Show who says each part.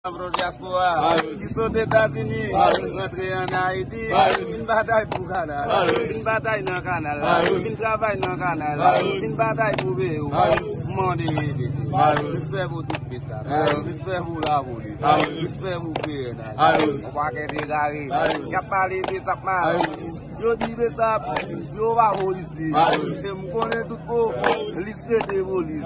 Speaker 1: Pro diaspora ki sot etazini vin rantre an ayiti vin batay pou kanal vin batay nan kanal vin travay nan kanal vin batay pou peyi w mande ede respè pou tout pesa respè pou lavoli respè pou pnh yon paket egare yap pale besap mal yo di besap yo pa polisye se m konnen tout polis rete polis